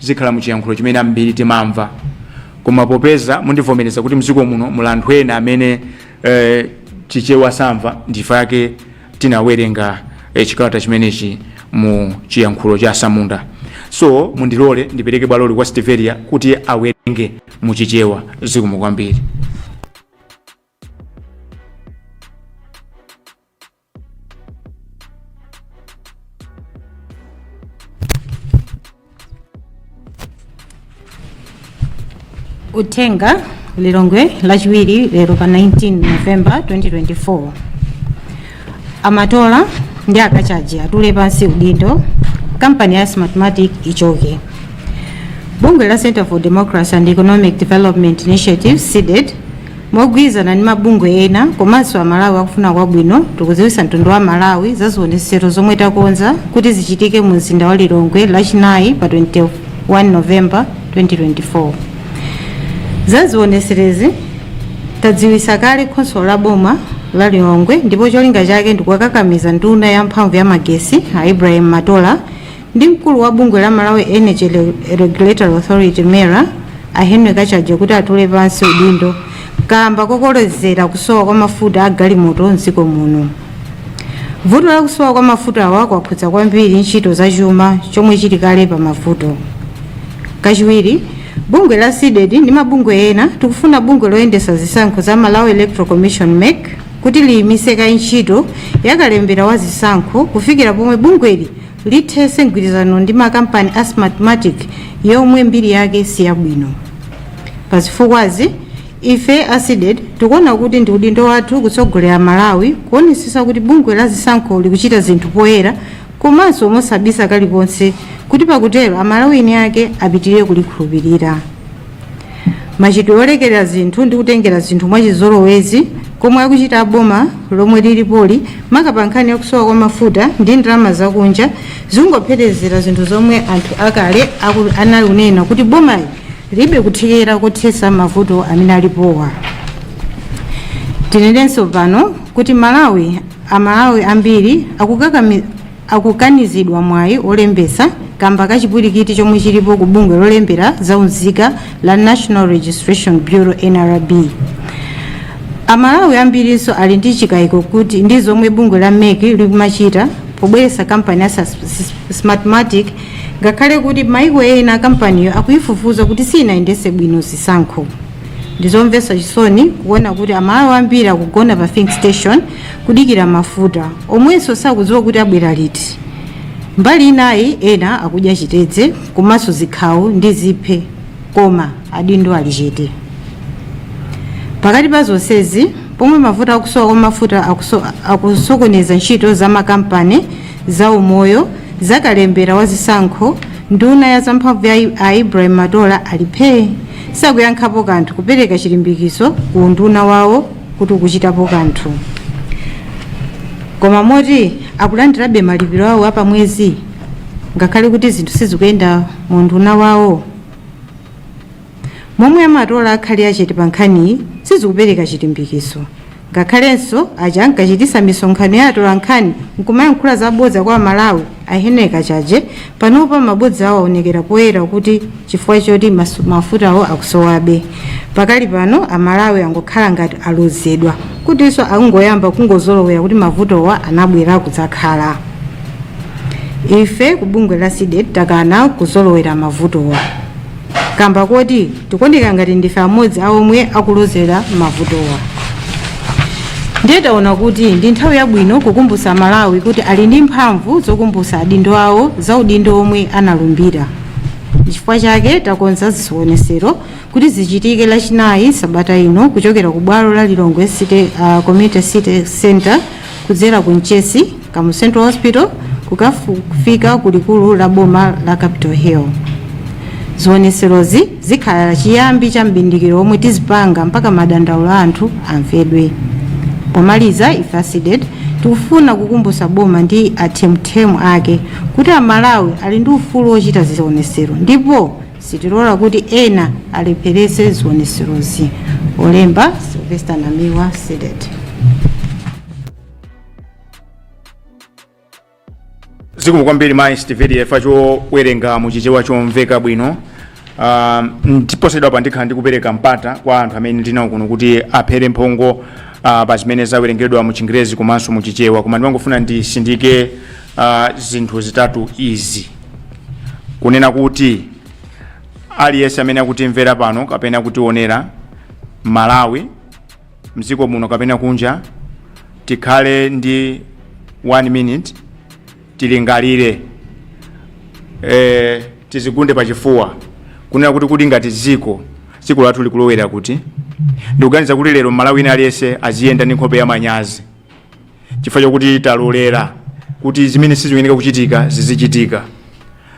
zikhala muchiyankhulo chimene ambiri timamva koma popeza mundivomereza kuti mdziko muno muli anthu ena amene eh, chichewa samva ndi chifukwa chake tinawerenga eh, chikalata chimenechi mu chiyankhulo cha samunda so mundilole ndipereke bwaloli kwa Stiveria kuti awerenge mu chichewa zikomo kwambiri uthenga lilongwe lachiwiri lero pa 19 november 2024 amatola ndi akachaji atule pansi udindo kampani ya smartmatic ichoke bungwe la center for democracy and economic development initiative cdedi Mogwirizana ndi mabungwe ena komanso Amalawi akufuna kwabwino, tikudziwitsa mtundu wa Amalawi za zionetsero zomwe takonza kuti zichitike mu mzinda wa Lilongwe Lachinayi pa 21 November 2024. Za zionetserezi tadziwitsa kale khonsolo la boma la Lilongwe ndipo cholinga chake ndikuwakakamiza nduna ya mphamvu ya magesi a Ibrahim Matola ndi mkulu wa bungwe la Malawi Energy Regulatory Authority MERA a Henry Kachaje kuti atule pansi udindo kamba kokolezera kusowa kwa mafuta a galimoto mdziko muno vuto la kusowa kwa mafuta awa kwakhudza kwambiri ntchito za chuma chomwe chili kale pa mavuto kachiwiri bungwe la cded ndi mabungwe ena tikufuna bungwe loyendesa zisankho za malawi electoral commission mec kuti liyimise kaye ntchito yakalembera wa zisankho kufikira pomwe bungweli lithese mgwirizano ndi makampani a Smartmatic yomwe mbiri yake siyabwino. Pa zifukwazi, ife a Cdedi tikuona kuti ndi udindo wathu kutsogolera Amalawi kuonetsetsa kuti bungwe la zisankho likuchita zinthu poyera komanso mosabisa kalikonse kuti pakutero Amalawi eni ake apitirire kulikhulupirira. machitidwe olekerera zinthu ndi kutengera zinthu mwachizolowezi komwe akuchita boma lomwe lilipoli maka pa nkhani yakusowa kwa mafuta ndi ndalama zakunja zikungopherezera zinthu zomwe anthu akale aku- anali kunena kuti bomali libe kuthekera kothetsa mavuto amene alipowa tinenenso pano kuti malawi amalawi ambiri akukakami akukanizidwa mwayi wolembetsa kamba ka chipwilikiti chomwe chilipo ku bungwe lolembera za unzika la National Registration Bureau, nrb. Amalawi ambirinso ali ndi chikaiko kuti ndi zomwe bungwe la mec likumachita pobweretsa kampani ya Smartmatic ngakhale kuti maiko ena kampaniyo akuyifufuza kuti siyinayendetse bwino zisankho. ndizomvetsa chisoni kuona kuti amalawi ambiri akugona pa filling station kudikira mafuta omwenso sakudziwa kuti abwera liti mbali inayi ena akudya chitedze komanso zikhawo ndi ziphe koma adindo ali chete pakati pa zonsezi pomwe mavuto akusowa kwa mafuta akuso- akusokoneza ntchito za makampani za umoyo za kalembera wa zisankho nduna ya zamphamvu ya I- a ibrahim matola ali phee sakuyankhapo kanthu kupereka chilimbikitso ku unduna wawo kuti ukuchitapo kanthu koma moti akulandirabe malipiro awo apamwezi ngakhale kuti zinthu sizikuyenda mu unduna wawo momwe a matola akhalira chete pa nkhaniyi sizikupereka chilimbikitso Ngakhalenso aja ankachitisa misonkhano ya atolankhani nkumayankhula za bodza kwa Amalawi, a Henry Kachaje, panopa mabodza awo aonekera poyera kuti chifukwa choti masu, mafutawo akusowabe. Pakali pano Amalawi angokhala ngati alozedwa kutinso akungoyamba kungozolowera kuti mavutowa anabwera kudzakhala. Ife ku bungwe la CDEDI takana kuzolowera mavutowa. kamba koti tikuoneka ngati ndife amodzi a omwe akulozera mavutowa ndiye taona kuti ndi nthawi yabwino kukumbutsa amalawi kuti ali ndi mphamvu zokumbutsa adindo awo za udindo omwe analumbira chifukwa chake takonza zionetsero kuti zichitike lachinayi sabata ino kuchokera ku bwalo la lilongwe city uh, community city center kudzera ku mchesi Kamuzu Central Hospital kukafika ku likulu la boma la Capital Hill. Zioneserozi zikhala chiyambi cha m'bindikiro omwe tizipanga mpaka madandaulo a anthu amvedwe. Pomaliza ife a CDEDI tikufuna kukumbutsa boma ndi athemuthemu ake kuti amalawi ali ndi ufulu wochita zionesero ndipo sitilola kuti ena alepheretse zioneserozi. Olemba Sylvester Namiwa CDEDI. zikomo kwambiri mayi stiveria chifukwa chowerenga mu chichewa chomveka bwino um, ndipo posachedwapa ndikhala ndikupereka mpata kwa anthu amene ndinawo kuno kuti aphere mphongo uh, pa zimene zawerengedwa mu chingerezi komanso mu chichewa koma ndimangofuna nditsindike uh, zinthu zitatu izi kunena kuti aliyense amene akutimvera pano kapena kutionera malawi mdziko muno kapena kunja tikhale ndi one minute tilingalire eh, tizigunde pachifuwa kunena kuti kodi ngati dziko dziko lathu likulowera kuti ndikuganiza kuti lero mmalawi wina aliyense aziyenda ndi nkhope ya manyazi chifukwa chakuti talolera kuti zimene siziyenera kuchitika zizichitika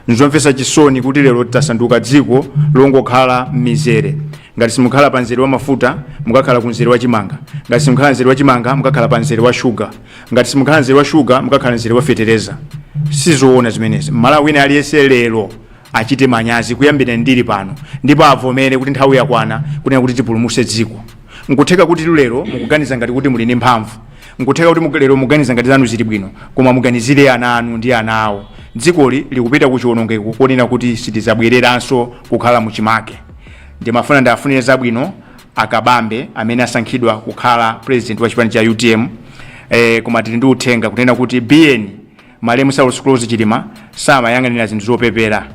nzomvetsa chisoni kuti lero tasanduka dziko longokhala m'mizere ngati simukhala pa mzere wa mafuta mukakhala ku mzere wa chimanga ngati simukhala mzere wa chimanga mukakhala pa mzere wa shuga ngati simukhala mzere wa shuga mukakhala mzere wa fetereza sizoona zimenezi mmalawi wina aliyense lero achite manyazi kuyambira ndili pano ndipo avomere kuti nthawi yakwana kunena kuti tipulumutse dziko nkutheka kuti lero mukuganiza ngati kuti muli ndi mphamvu nkutheka kuti muga- lero muganiza ngati zanu zili bwino koma muganizire ana anu ndi ana awo dzikoli likupita ku chiwonongeko konena kuti sitizabwereranso kukhala mu chimake ndimafuna ndiwafunire zabwino akabambe amene asankhidwa kukhala president wa chipani cha utm eh, koma tili ndi uthenga kunena kuti biyeni malemu saulos klaus chilima samayang'anira zinthu zopepera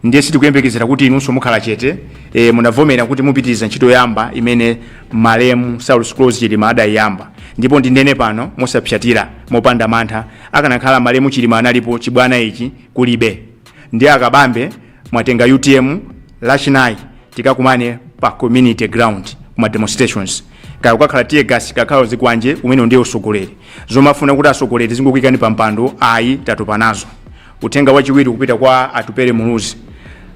ndiye sitikuyembekezera kuti inunso mukhala chete e, munavomera kuti mupitiriza ntchito yabwino imene malemu saulos klaus chilima adayiyamba ndipo ndinene pano mosapsatira mopanda mantha akanakhala malemu chilima analipo chibwana ichi kulibe ndiye akabambe mwatenga utm lachinayi tikakumane pa community ground kuma demonstrations kaya kukakhala tear gas kukakhala zikwanje umene ndiye usogoleri zomafuna kuti atsogoleri azingokuyikani pa mpando ayi tatopa nazo uthenga wachiwiri kupita kwa atupere muluzi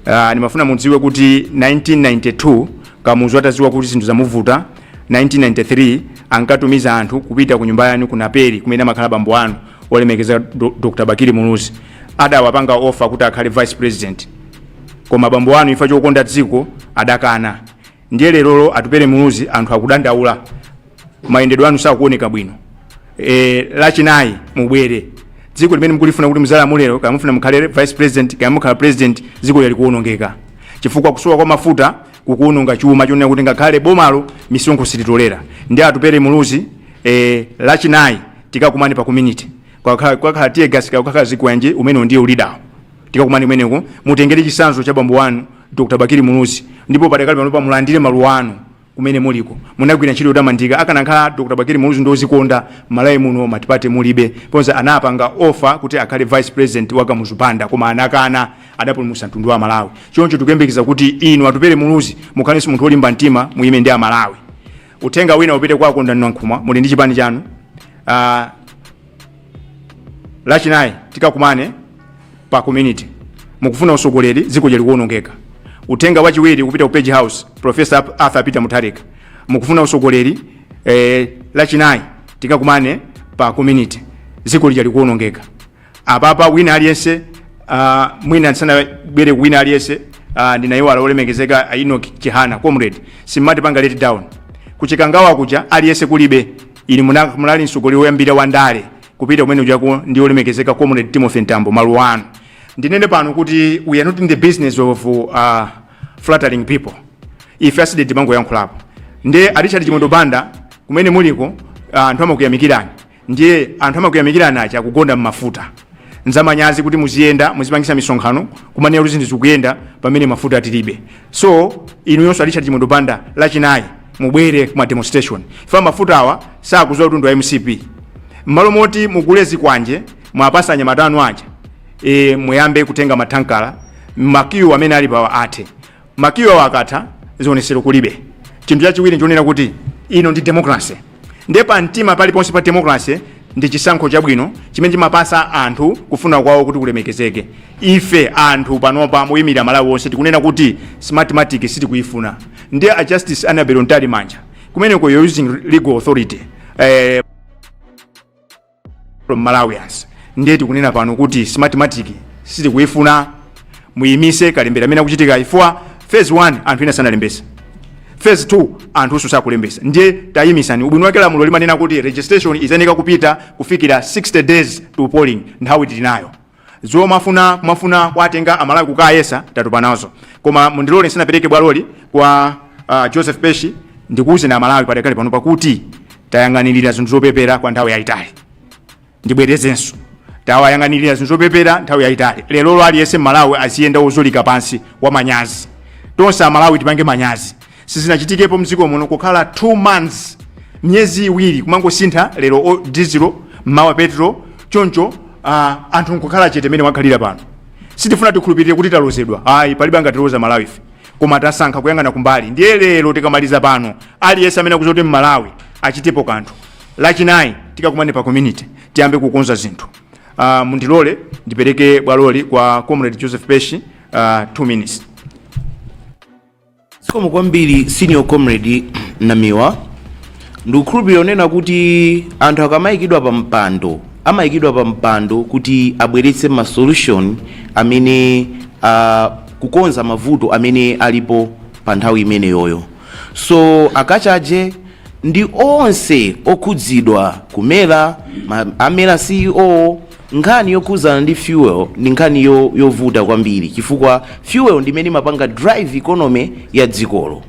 uh, ndimafuna mudziwe kuti 1992 kamuzu ataziwa kuti zinthu zamuvuta 1993 ankatumiza anthu kupita ku nyumba yanu ku naperi kumene amakhala bambo anu olemekezeka Do- dr bakili muluzi adawapanga offer kuti akhale vice president koma bambo anu chifukwa chokonda dziko adakana ndiye lerolo atupere muluzi anthu akudandaula mayendedwe anu sakuoneka bwino e, lachinayi mubwere dziko limene mukulifuna kuti muzalamulire kaya mufuna mukhale vice president kaya mukhala president dziko lija likuonongeka chifukwa kusowa kwa mafuta kukuononga chuma chonena kuti ngakhale bomalo misonkho silitolera ndiye atupere muluzi e, lachinayi tikakumane pa community kukakhala kukakhala tear gas kukakhala zikwanje umene ndiye ulidawu tikakumane kumeneko mutengere chisanzo cha bambo wanu dr bakili muluzi ndipo padakali panopa mulandire maluwa anu kumene muliko munagwira ntchito yotamandika akanakhala dr bakili muluzi ndi ozikonda malawi muno matipate mulibe ponja anapanga offer kuti akhale vice president wa kamuzu banda koma anakana adapulumutsa mtundu wa malawi choncho tikuyembekeza kuti inu atupere muluzi mukhalenso munthu wolimba mtima muyime ndi amalawi Uthenga wina upite kwa Kondwani Nankhumwa, muli ndi chipani chanu. Uh, lachinayi tikakumane pa community mukufuna usogoleri dziko lija likuwonongeka. Uthenga wachiwiri kupita ku Page House, Professor Arthur Peter Mutharika, mukufuna usogoleri eh, lachinayi tikakumane pa community dziko lija likuwonongeka. apapa wina aliyense uh, mwina ndisanabwere wina aliyense uh, ndinayiwala olemekezeka a Enoch Chihana comrade simunatipange let down ku Chikangawa kuja aliyense kulibe ili muna- munali msogolero woyambira wa ndale kupita kumene kujako ndi olemekezeka comrade Timothy Mtambo maluwa anu ndinene pano kuti we are not in the business of uh, flattering people ife as CDEDI timangoyankhulapo nde a Richard Chimwendo Banda kumene muliko ah, anthu amakuyamikirani ndiye anthu amakuyamikirani ajawa kukonda mmafuta nzamanyazi kuti muziyenda muzipangisa misonkhano kumanena kuti zinthu zikuyenda pamene mafuta tilibe so inuyonso a richard chimwendo banda lachinayi mubwere kuma demonstration ifa mafuta awa sakuziwa kuti ndi wa mcp mmalo moti mugule zikwanje mwapasa anyamata anu aja e, muyambe kutenga mathankala makiyu amene ali pawa athe makiyi awo akatha zionetsero kulibe chinthu chachiwiri ndichonena kuti ino ndi democracy ndiye pa mtima paliponse pa democracy ndi chisankho chabwino chimene chimapasa anthu kufuna kwawo kuti kulemekezeke ife anthu panopa moyimira malawi onse tikunena kuti smartmatic sitikuyifuna ndiye a justice annabel mtalimanja kumeneko you're using legal authority eh, from malawians ndiye tikunena pano kuti smartmatic sitikuifuna muyimise kalembera amene akuchitika chifukwa phase 1 anthu ena sanalembesa phase 2 anthunso sakulembesa ndiye tayimisani ubwino wake lamulo limanena kuti registration izayeneka kupita kufikira 60 days to polling nthawi tili nayo Zomafuna mafuna kuwatenga a Malawi kukayesa tatopa nazo. Koma mundilore ndisanapereke bwaloli kwa a Joseph Peshi ndikuuzeni a Malawi padakali panopa kuti tayang'anilira zinthu zopepera kwa nthawi yayitali. Ndibwerezenso tawayang'anilira zinthu zopepera nthawi yayitali. Lerolo aliyense m'Malawi aziyenda wozyolika pansi wamanyazi. Tonse a Malawi tipange manyazi. sizinachitikepo mdziko muno kukhala 2 months miyezi iwiri kumangosintha lero o- dizilo mmawa petro choncho uh, anthu nkukhala chete mmene akhalira pano sitifuna tikhulupirire kuti talozedwa ayi palibe angatiloze malawife koma tasankha kuyang'ana kumbali ndiye lero tikamaliza pano aliyense amene akuziti mmalawi achitepo kanthu lachinayi tikakumane pa community tiyambe kukonza zinthu uh, mundilole ndipereke bwaloli kwa comrade joseph peshi uh, 2 minutes zikomo kwambiri senior comrade namiwa ndikukhulupirira kunena kuti anthu akamayikidwa pa mpando amayikidwa pa mpando kuti abweretse ma solution amene uh, kukonza mavuto amene alipo pa nthawi imeneyoyo so a kachaje ndi onse okhudzidwa ku mera ma- a mera ceo Nkhani yokhudzana ndi fuel ndi nkhani yo yovuta kwambiri chifukwa fuel ndi imene imapanga drive economy ya dzikolo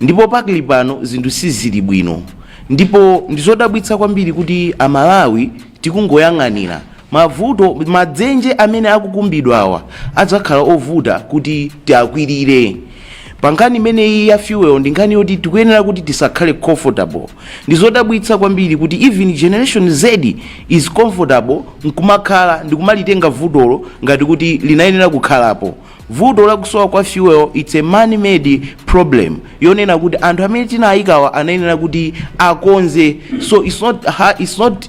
ndipo pakali pano zinthu sizili bwino ndipo ndizodabwitsa kwambiri kuti a Malawi tikungoyang'anira mavuto madzenje amene akukumbidwawa adzakhala ovuta kuti tiakwirire pa nkhani imeneyi ya fuel ndi nkhani yoti tikuyenera kuti tisakhale comfortable Ndizodabwitsa kwambiri kuti even generation Z is comfortable nkumakhala ndikumalitenga vutolo ngati kuti linayenera kukhalapo. Vuto lakusowa kwa fuel its a man made problem yonena kuti anthu amene tinayikawa anayenera kuti akonze so its not, its not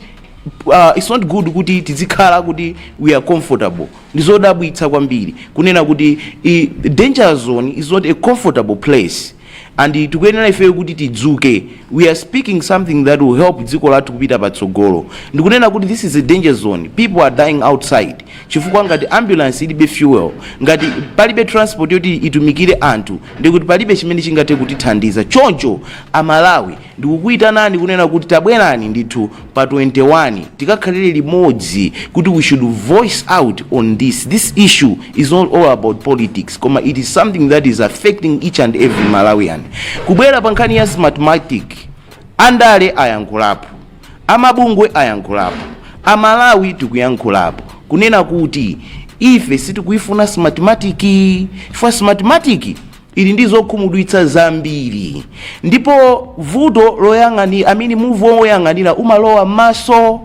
Uh, it's not good kuti tizikhala kuti we are comfortable ndizodabwitsa kwambiri kunena kuti i, danger zone is not a comfortable place and tikuyenera ifeyo kuti tidzuke we are speaking something that will help dziko lathu kupita patsogolo ndikunena kuti this is a danger zone people are dying outside chifukwa ngati ambulance ilibe fuel ngati palibe transport yoti itumikire anthu ndikuti palibe chimene chingathe kutithandiza choncho amalawi Ndikukuitanani kunena kuti tabwerani ndithu pa 21 tikakhalire limodzi kuti we should voice out on this, this issue is not all about politics koma it is something that is affecting each and every Malawian. Kubwera pa nkhani ya smartmatic, andale ayankhulapo, amabungwe ayankhulapo, amalawi tikuyankhulapo kunena kuti ife sitikuifuna smartmatic chifukwa smartmatic ili ndi zokhumudwitsa zambiri ndipo vuto loyang'ani amene muvi woyang'anira umalowa m'maso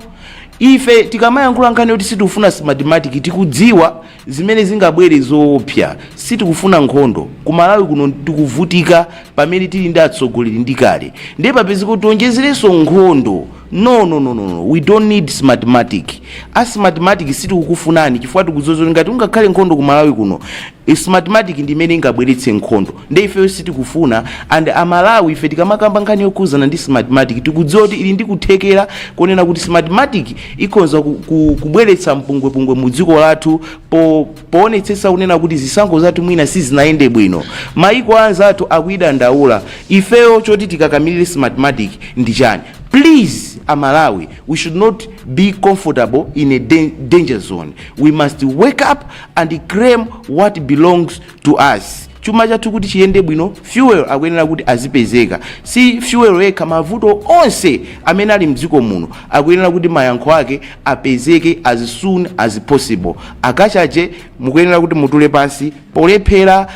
ife tikamayankhula nkhani yoti sitikufuna smartmatic tikudziwa zimene zingabwere zoopsa sitikufuna nkhondo ku malawi kuno tikuvutika pamene tili ndi atsogoleri ndi kale ndiye papezeke tionjezerenso nkhondo no no no no no. we don't need smartmatic a smartmatic sitikukufunani chifukwa tikudziwa ngati kungakhale nkhondo ku malawi kuno eh, smartmatic ndi imene ingabweretse nkhondo nde ifeyo sitikufuna and amalawi ife tikamakamba nkhani yokhuzana ndi smartmatic tikudziwa kuti ili ndi kuthekera konena kuti smartmatic ikhonza ku, ku, kubweretsa mpungwepungwe mu dziko lathu po, poonetsetsa kunena kuti zisankho zathu mwina sizinayende bwino maiko anzathu akuidandaula ifeyo choti tikakamirire smartmatic ndi chani Please a Malawi, we should not be comfortable in a danger zone. We must wake up and claim what belongs to us. chuma chathu kuti chiyende bwino fuel akuyenera kuti azipezeka si fuel yekha mavuto onse amene ali mdziko muno akuyenera kuti mayankho ake apezeke as soon as possible a Kachaje mukuyenera kuti mutule pansi polephera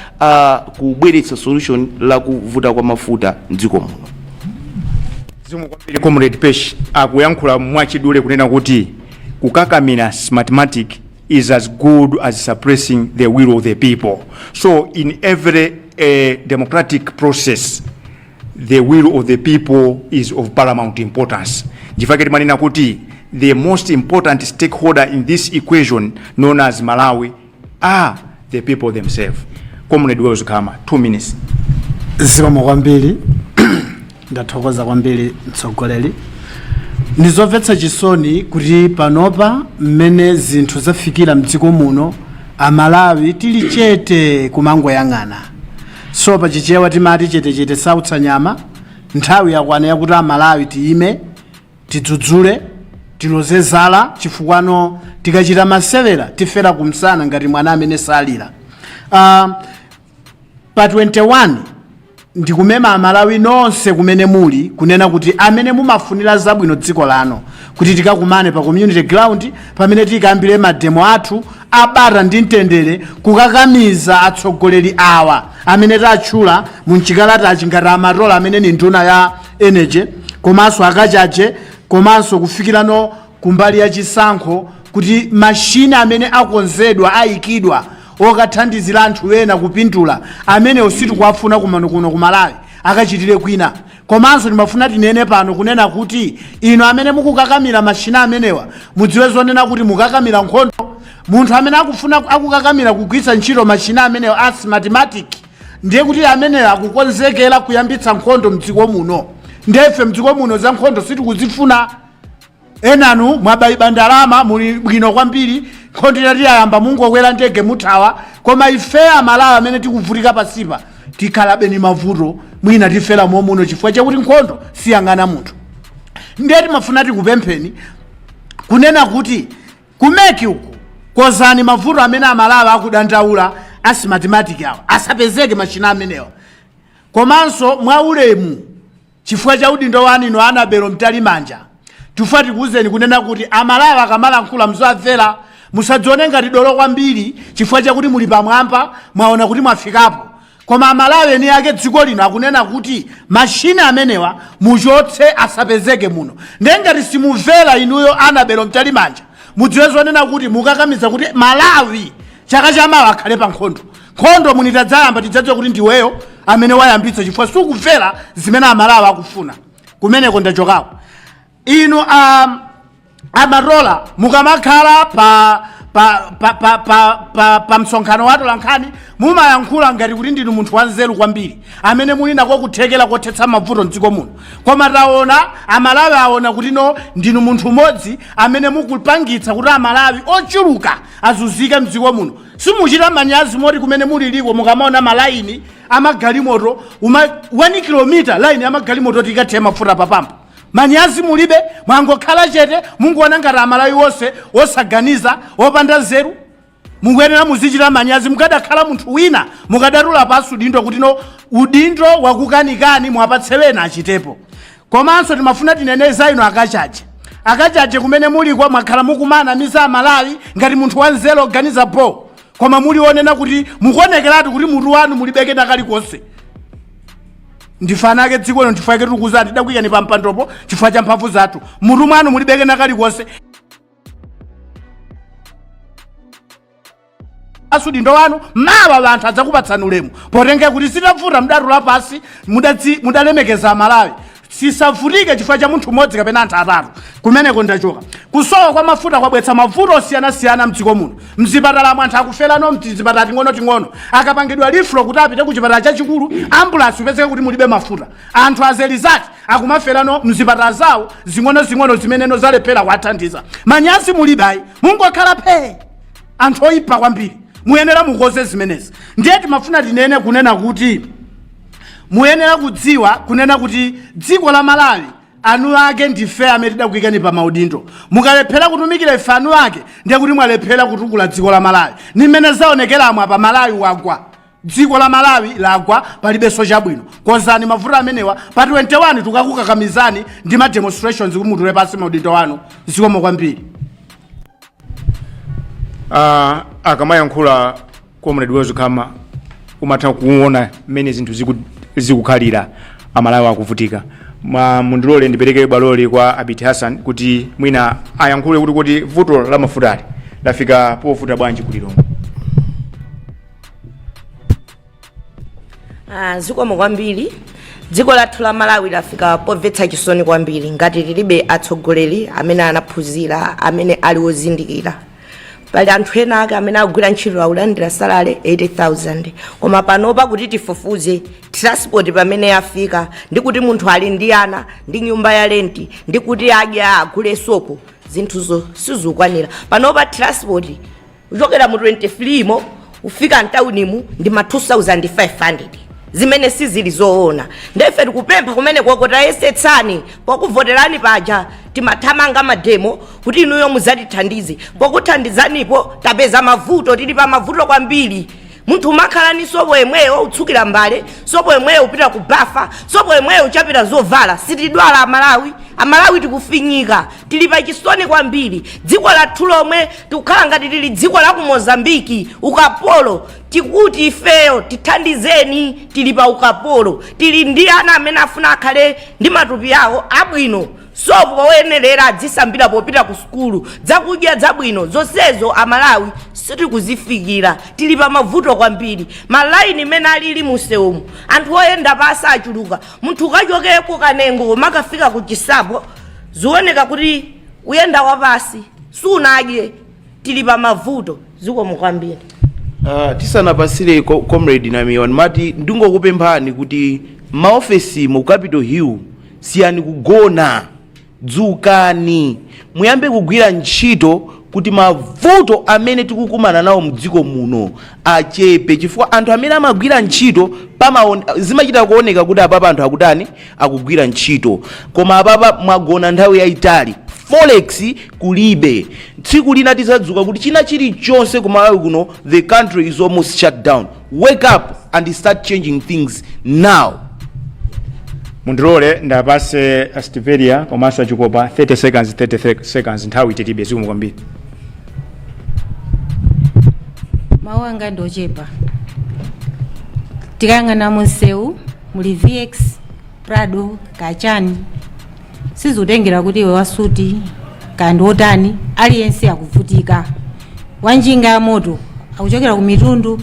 kubweretsa solution la kuvuta kwa mafuta mdziko muno. Zikomo kwambiri comrade pesh akuyankhula mwachidule kunena kuti kukakamira smartmatic is as good as suppressing the will of the people so in every uh, democratic process the will of the people is of paramount importance ndichifukwa chake timanena kuti the most important stakeholder in this equation known as malawi are the people themselves comrade wells khama two minutes zikomo kwambiri ndathokoza kwambiri mtsogoleri ndizomvetsa chisoni kuti panopa mmene zinthu zafikira mdziko muno amalawi tili chete kumangoyang'ana so pa chichewa timati chetechete sautsa nyama nthawi yakwana yakuti amalawi tiyime tidzudzule tiloze zala chifukwano tikachita masewera tifera kumsana ngati mwana amene salira uh, pa 21 ndikumema amalawi nonse kumene muli kunena kuti amene mumafunira zabwino dziko lano kuti tikakumane pa community ground pamene tikayambire mademo athu abata ndi mtendere kukakamiza atsogoleri awa amene tatchula mu mchikalatachi ngati amatola amene ni nduna ya energy komanso akachaje komanso kufikirano kumbali ya chisankho kuti machine amene akonzedwa ayikidwa okathandizira anthu ena kupindula amenewo sitikuwafuna kumano kuno ku malawi akachitire kwina komanso timafuna tinene pano kunena kuti inu amene mukukakamira machine amenewa mudziwe zonena kuti mukakamira nkhondo munthu amene akufuna akukakamira kugwiritsa ntchito machine amenewa a smartmatic ndiye kuti ameneyo akukonzekera kuyambitsa nkhondo mdziko muno nde ife mdziko muno za nkhondo sitikuzifuna enanu mwabayiba ndalama muli bwino kwambiri nkhondo itati yayamba mungokwera ndege muthawa koma ife amalawi amene tikuvutika pansipa tikhalabe ni mavuto mwina tifera momuno chifukwa chakuti nkhondo siyang'ana munthu ndiye timafuna tikupempheni kunena kuti Ku mec uku konzani mavuto amene amalawi akudandaula a smartmatic awa asapezeke machine amenewa komanso mwa ulemu chifukwa cha udindo wanu inu annabel mtalimanja tifuna tikuwuzeni kunena kuti amalawi akamalankhula muziwamvera musadzione ngati dolo kwambiri chifukwa chakuti muli pamwamba mwaona kuti mwafikapo koma amalawi eni ake dziko lino akunena kuti machine amenewa muchotse asapezeke muno ndiye ngati simumvera inuyo annabel mtalimanja mudziwe zonena kuti mukakamiza kuti malawi chaka chamawa akhale pa nkhondo nkhondo muno itadzayamba tidzadziwa kuti ndiweyo amene wayambitsa chifukwa sukumvera zimene amalawi akufuna kumeneko ndachokakonso inu amatola mukamakhala pa msonkhano wa atolankhani mumayankhula ngati kuti ndinu munthu wanzeru kwambiri amene muli nako kuthekera kothetsa mavuto mdziko muno koma taona amalawi aona kuti no ndinu munthu umodzi amene mukupangitsa kuti amalawi ochuluka azunzike mdziko muno simuchita manyazi moti kumene muli liko mukamaona malaini amagalimoto 1 kilomita laini amagalimoto tikathe mafuta papampu Manyazi mulibe? Mwangokhala chete mungoona ngati amalawi onse osaganiza, opanda nzeru? Mukuyenera muzichita manyazi mukadakhala munthu wina mukadatula pansi udindo kuti no udindo wakukanikani muwapatse wena achitepo. Komanso timafuna tinene za inu akachaje. Akachaje kumene muliko mwakhala mukumanamiza amalawi ngati munthu wanzeru oganiza bho. Koma muli onena kuti mukuonekeratu kuti mutu mwanu mulibe kena kalikonse. ndife eni ake dziko lino chifukwa chake tikuuzani tidakuyikani pa mpandopo chifukwa cha mphamvu zathu mutu mwanu mulibe kena kalikonse pansi udindo wanu mawa anthu adzakupatsani ulemu potengera kuti zitavuta mudatula pansi mudatsi- mudalemekeza amalawi sisavutike chifukwa cha munthu mmodzi kapena anthu atatu kumeneko ndachoka kusowa kwa mafuta kwabweretsa mavuto osiyanasiyana mdziko muno mzipatalamu anthu akuferamo mtizipatala ting'onoting'ono akapangidwa referral kuti apite ku chipatala chachikulu ambulansi kupezeka kuti mulibe mafuta anthu azelizati akumaferamo mzipatala zawo zing'onozing'ono zimene zalephera kuwathandiza manyazi mulibe ayi mungokhala phee anthu oyipa kwambiri muyenera mukonze zimenezi ndiye timafuna tinene kunena kuti muyenera kudziwa kunena kuti dziko la malawi eni ake ndife amene tidakuikani pa maudindo mukalephera kutumikira ife eni ake ndiye kuti mwalephera kutukula dziko la malawi ndi mmene zaonekeramu apa malawi wagwa dziko la malawi lagwa palibenso chabwino konzani mavuto amenewa pa 21 tukakukakamizani ndi ma demonstrations kuti mutule pansi maudindo anu zikomo kwambiri Ah, akamayankhula comrade wezukhama umatha kuona mmene zinthu ziku- zikukhalira amalawi akuvutika Ma- mundilole ndipereke bwaloli kwa abiti hassan kuti mwina ayankhule kuti kuti vuto la mafutali lafika povuta bwanji kulilongwe Ah, zikomo kwambiri dziko lathu la malawi lafika pomvetsa chisoni kwambiri ngati tilibe atsogoleri amene anaphunzira amene ali ozindikira pali anthu ena ake amene akugwira ntchito akulandira salary 80000 koma panopa kuti tifufuze transport pamene yafika ndi kuti munthu ali ndi ana ndi nyumba ya lenti ndi kuti adya agule sopo zinthuzo sizikukwanira panopa transport kuchokera mu 23 mo kufika mtaunimu ndi ma 2500 zimene sizili zoona nde ife tikupempha kumene koko tayesetsani pokuvoterani paja timathamanga mademo kuti inuyo muzatithandize pokuthandizanipo tapeza mavuto tili pa mavuto kwambiri munthu umakhala ni sopo yemweyo utsukira mbale sopo yemweyo upita ku bafa sopo yemweyo uchapira zovala sitidwala amalawi amalawi tikufinyika tili pa chisoni kwambiri dziko lathu lomwe tikukhala ngati tili dziko la ku mozambiki ukapolo tikuti ifeyo tithandizeni tili pa ukapolo tili ndi ana amene afuna akhale ndi matupi awo abwino sopo oyenerera adzisambira popita ku sukulu zakudya zabwino zonsezo amalawi sitikuzifikira tili pa mavuto kwambiri malaini mmene alili mumsewumu anthu oyenda pasi achuluka munthu ukachoke ku kanengo ukafika ku chinsapo zioneka kuti uyenda wapasi sunadye tili pa mavuto zikomo kwambiri Uh, tisanapatsire co- comrade namiwa ndimati ndingokupemphani kuti maofesi mu capital hill siyani kugona dzukani muyambe kugwira ntchito kuti mavuto amene tikukumana nawo mdziko muno achepe chifukwa anthu amene amagwira ntchito zimachita kuoneka kuti apapa anthu akutani akugwira ntchito koma apapa mwagona nthawi yayitali forex kulibe tsiku lina tizadzuka kuti china chilichonse kumalawi kuno the country is almost shut down wake up and start changing things now mundilole ndiwapatse asitiveria komanso achikopa 30 seconds 30 seconds nthawi tilibe zikomo kwambiri mawu anga ndi ochepa tikayang'ana munsewu muli vx prado kachani sizikutengera kuti iwe wasuti kaya ndi wotani aliyense akuvutika wanjinga ya moto akuchokera ku mitundu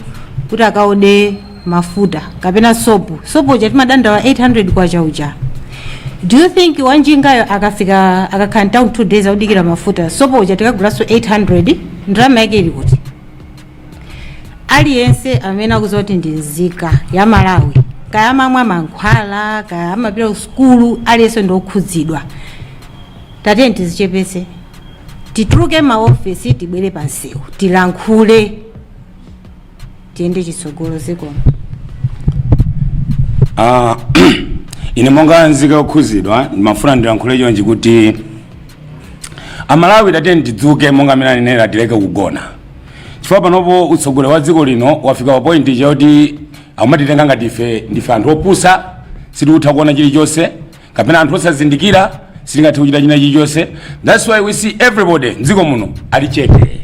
kuti akaode mafuta kapena sopo sopo uja timadandaula 800 kwacha uja do you think wanjingayo akafika akakhala town two days akudikira mafuta sopo uja tikagulanso 800 ndalama yake ili kuti aliyense amene akudziwa kuti ndi nzika ya malawi kaya amamwa mankhwala kaya amapita ku sukulu aliyense ndi okhudzidwa tatiyeni tizichepese tituluke maofesi tibwere pansewu tilankhule tiyende chitsogolo zikomo Ah, ine monga nzika yokhudzidwa ndimafuna ndilankhule chonchi kuti amalawi tatiyeni tidzuke monga amene anenera tileke kugona chifukwa panopo utsogoleri wa dziko lino wafika pa point ija yoti akumatitenga ngati ife ndife anthu opusa sitikutha kuona chilichonse kapena anthu osazindikira sitingathe kuchita china chilichonse thats why we see everybody mdziko muno ali chete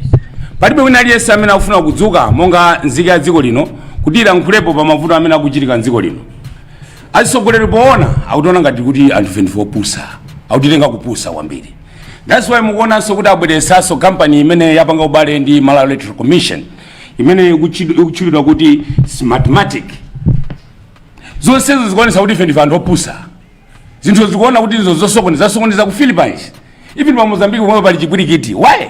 palibe wina aliyense amene akufuna kudzuka monga nzika ya dziko lino kuti ilankhulepo pa mavuto amene akuchitika mdziko lino atsogoleri poona akutiona ngati kuti anthu ife ndife opusa akutitenga kupusa kwambiri That's why mukuonanso kuti abweresanso company imene yapanga ubale ndi Malawi Electoral Commission imene ikutchulidwa kuti Smartmatic. Zonsezo zikuonesa kuti ife ndife anthu opusa. Zinthu zikuona kuti izo zosokoneza zasokoneza ku Philippines. Even pa Mozambique pomwepa pali chipwirikiti. Why?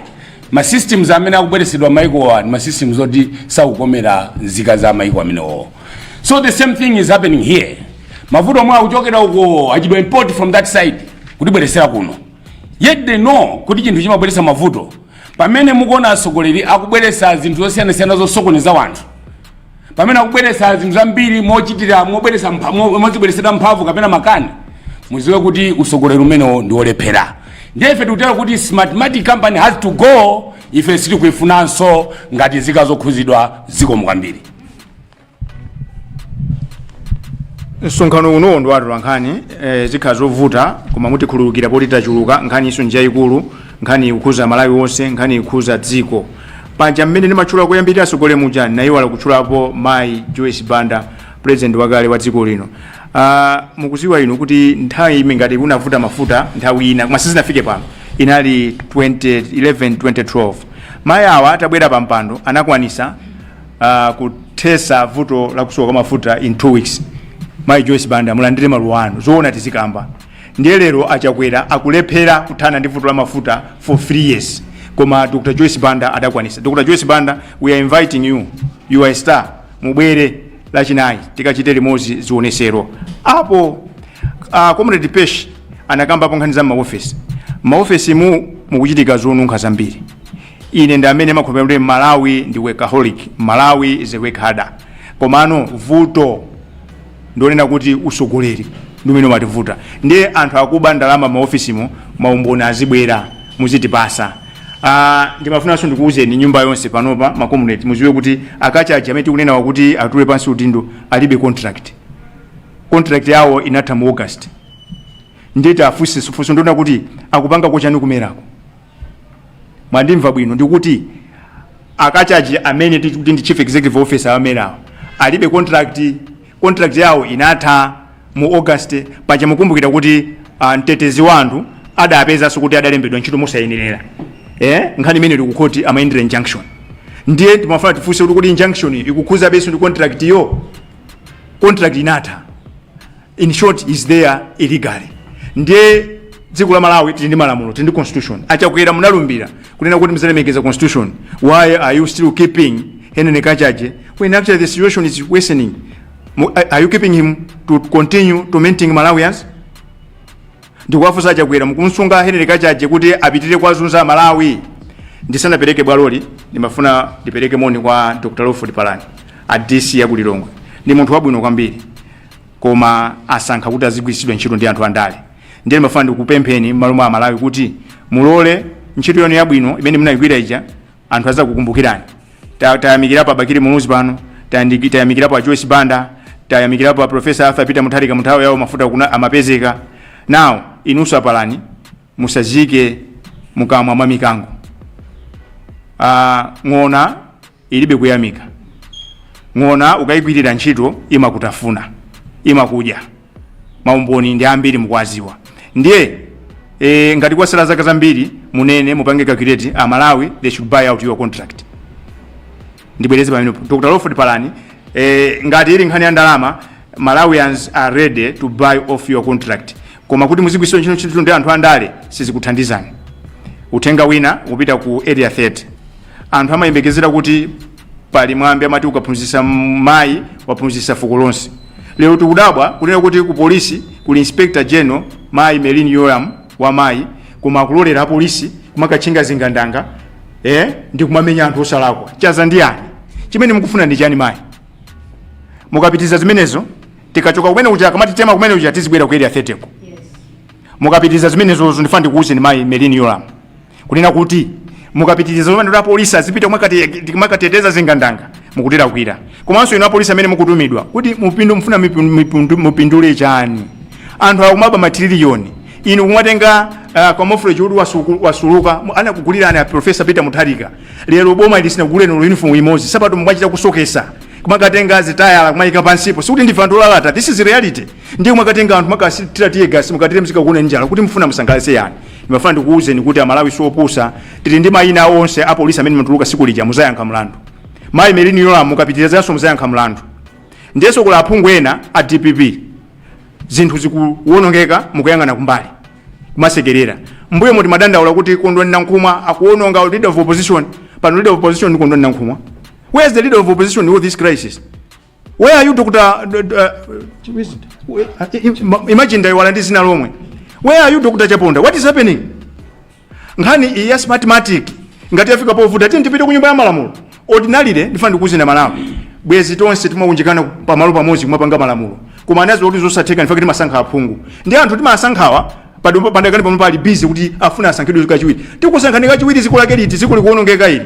ma systems amene akubweresedwa maikowa ndi ma systems oti sakukomera nzika za maiko amenewo so the same thing is happening here mavuto omwe akuchokera uko achita import from that side kutibweresera kuno yet they know kuti chinthu chimabweresa mavuto pamene mukuona atsogoleri akubweresa zinthu zosiyanasiyana zosokoneza wanthu pamene akubweretsa zinthu zambiri mochitira mobweretsa mpha- mo- mozibweretsedwa mphamvu kapena makani muziwe kuti usogoleri umenewo ndi olephera ndiye ife tikutero kuti smartmatic company has to go ife sitikuifunanso ngati nzika zokhuzidwa zikomo kwambiri msonkhano uno ndi wa atolankhani eh, zikhala zovuta koma mutikhululukira poti tachuluka nkhani iso njayikulu nkhani ikukhuza malawi wonse nkhani ikukhuza dziko paja mmene ndimatchula koyambirira asogoleri muja nayiwala kutchulapo mayi joyce banda president wakale wa dziko lino uh, mukuziwa inu kuti nthawi imene ngati kunavuta mafuta nthawi ina koma sizinafike pano inali 2011 2012 mayi awa atabwera pa mpando anakwanisa uh, kuthesa vuto la kusowa kwa mafuta in two weeks mayi joyce banda mulandire maluwa anu zoona tizikamba ndiye lero achakwera akulephera kuthana ndi vuto la mafuta for 3 years koma dr joyce banda adakwanisa dr joyce banda we are inviting you you are a star mubwere lachinayi tikachite limodzi zionesero apo uh, comrade pesh anakambapo nkhani za maofesi maofesimu mukuchitika zonunkha zambiri ine ndi amene ndimakhulupirira kuti malawi ndi workaholic malawi is a hard worker komano vuto ndi lonena kuti usogoleri ndi umene umatiivuta ndiye anthu akuba ndalama maofisimo maumboni azibwera muzitipasa Ah, ndimafunanso ndikuwuzeni nyumba yonse panopa makomuneti muziwe kuti a kachaje amene tikunenawa kuti atule pansi udindo alibe contract contract yawo inatha mu august ndiye tafunse funso ndi lonena kuti akupanga kochani ku mera ko mwandimva bwino ndikuti akachaje amene tikuti ndi chief executive officer amerawo alibe contract contract yawo inatha mu august paja mukumbukira kuti uh, mtetezi wa anthu adapezanso kuti adalembedwa ntchito mosayenerera eh? nkhani imene ili kukhoti amayendera injunction ndiye timafuna tifunse kuti kodi injunction ikukhuzabenso ndi contract yo contract inatha in short he's there illegally ndiye dziko la malawi tili ndi malamulo tili ndi constitution achakwera munalumbira kunena kuti muzalemekeza constitution why are you still keeping henry kachaje when actually the situation is worsening Mu- are- are you keeping him to continue tormenting malawians ndikuwafunsa achakwera mukumsunga henry kachaje kuti apitire kuwazunza amalawi ndisanapereke bwaloli ndimafuna ndipereke moni kwa dr lawford palani a dc ya kulilongwe ndi munthu wabwino kwambiri koma asankha kuti azigwiritsidwa ntchito ndi anthu andale ndiye ndimafuna ndikupempheni m'malo mwa amalawi kuti mulole ntchito yanu yabwino imene munayigwira ija anthu azakukumbukirani Ta- tayamikirapo abakiri muluzi pano tayandi- tayamikirapo a joyce banda tayamikirapo a profesa arthur peter mutharika munthawi yawo mafuta kuno amapezeka now inunso apalani musaziike mukamwa mwa mikango Ah, ng'ona ilibe kuyamika ng'ona ukayigwirira ntchito imakutafuna imakudya maumboni ndi ambiri mukuwaziwa ndiye e, ngati kwasala zaka zambiri munene mupange calculate amalawi they should buy out your contract ndibwereze pamenepo dr lawford palani eh, ngati ili nkhani ya ndalama malawians are ready to buy off your contract koma kuti muzigwiritsidwa ntchito ndi anthu andale sizikuthandizani uthenga wina ukupita ku area 30 anthu amayembekezera kuti pali mwambi amati ukaphunzitsa mayi waphunzitsa fuko lonse lero tikudabwa kunena kuti ku polisi kuli inspector general mayi merlyn yolamu wa mayi koma akulolera apolisi kumakatchinga zingandanga eh? ndi kumamenya anthu osalakwa chaza ndi yani chimene mukufuna ndi chani mayi mukapitiriza zimenezo tikachoka kumene kuja kamati tema kumene kuja tizibwera ku area 30 ko mukapitiriza zimenezozo ndifuna ndikuwuzeni mayi merlyn yolamu kunena kuti mukapitiriza zomwe ndoti apolisi azipita kumakateteza zingandanga mukutilakwira komanso inu apolisi amene mukutumidwa kuti mupindu mufuna mipu- mipundu- mupindule chani anthu akumaba matililiyoni inu kumwatenga uh, kamofuleji kuti wasuku- wasuluka mu- anakugulirani a profesa peter mutharika lero boma ili sinakuguleni olo uniform imodzi nsapato mumachita kusokesa kumakatenga zitayala kumayika pansipo sikuti ndife anthu olalata this is reality ndiye kumakatenga anthu makasitira teargas mukathire mzika kuona njala kuti mufuna musangalatse yani ndimafuna ndikuwuzeni kuti amalawi siopusa tili ndi mayina onse apolisi amene mutuluka siku lija muzayankha mlandu mayi melini yolamu mukapitirizanso muzayankha mlandu ndiyenso kuli aphungu ena a dpp zinthu zikuwonongeka mukuyang'ana kumbali kumasekerera mbuyo mumadandaula kuti kondwani nankhumwa akuwononga leader of opposition pano leader of opposition ndi kondwani nankhumwa where is the leader of opposition in all this crisis Where are you Dr. Uh, uh, imagine ndaiwala ndi zina lomwe. Where are you Dr. Chaponda? What is happening? Nkhani iyi ya smartmatic ngati yafika povuta tiyeni tipite ku nyumba ya malamulo. Ordinarily ndifeyo nzika za Malawi. Bwezi tonse tikumaunjikana pamalo pamodzi kumapanga malamulo. Koma anaona kuti zosatheka nchifukwa timasankha aphungu. Ndiye anthu timasankhawa padakali pano ali busy kuti afuna asankhidwe kachiwiri. Tikusankhani kachiwiri ziko lake liti ziko likuonongeka ili.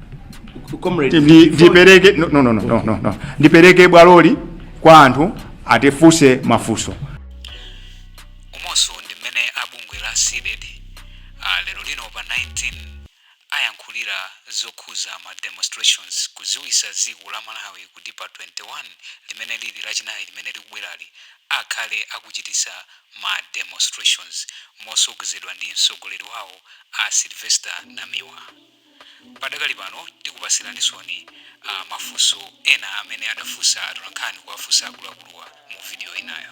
ndipereke bwaloli kwa anthu atifunse mafunso umonso ndi mmene a bungwe la cdedi uh, lero lino pa 19 ayankhulira zokhuza ma demonstrations kuziwisa dziko la malawi kuti pa 21 limene lili lachinayi limene likubwerali akhale akuchitisa ma demonstrations motsogozedwa ndi mtsogoleri wawo a sylvester namiwa Padakali pano tikupatsiraninsoni mafunso ena amene adafunsa atolankhani kuwafunsa akuluakuluwa mu video inayo.